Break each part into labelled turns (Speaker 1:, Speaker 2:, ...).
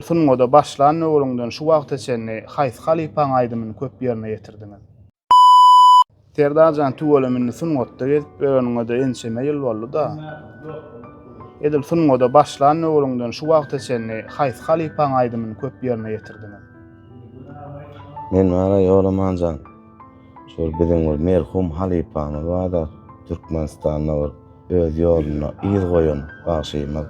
Speaker 1: Sungada başlan döwrüňden şu wagta çenli haýsy halypaň aýdymyny köp ýerine ýetirdiňiz? Serdarjan tüwelem indi sungatda gezip ýöreniňede ençeme ýyl boldy-da. Edil sungada başlan döwrüňden şu wagta çenli haýsy halypaň aýdymyny köp ýerine ýetirdiňiz?
Speaker 2: Men wara Ýolamanjan şol biziň bir merhum halypamyz barda Türkmenistanda bir öz ýoluna yz goýan bagşymyz.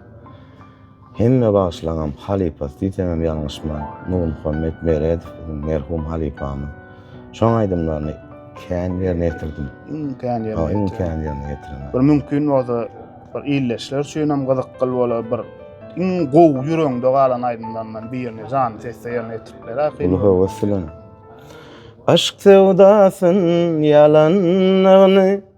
Speaker 2: Hemme bagyşlaňam halypasy diýseňem ýalňyşman, Nurmuhammet Meredow biziň merhum halypamyz. Şoň aýdymlaryny kän ýerine ýetirdim. Iň kän ýerine ýetiren.
Speaker 1: Iň kän ýerine ýetiren.
Speaker 2: Bir mümkin bolsa
Speaker 1: bir ildeşler üçinem gyzykgyl bolar bir iň gowy ýüregiňde galan aýdymlaryndan birini janly sesde ýerine ýetirip beräýk. Uly höwes bilen.
Speaker 2: Aşk söwdasyn ýalanlygyny.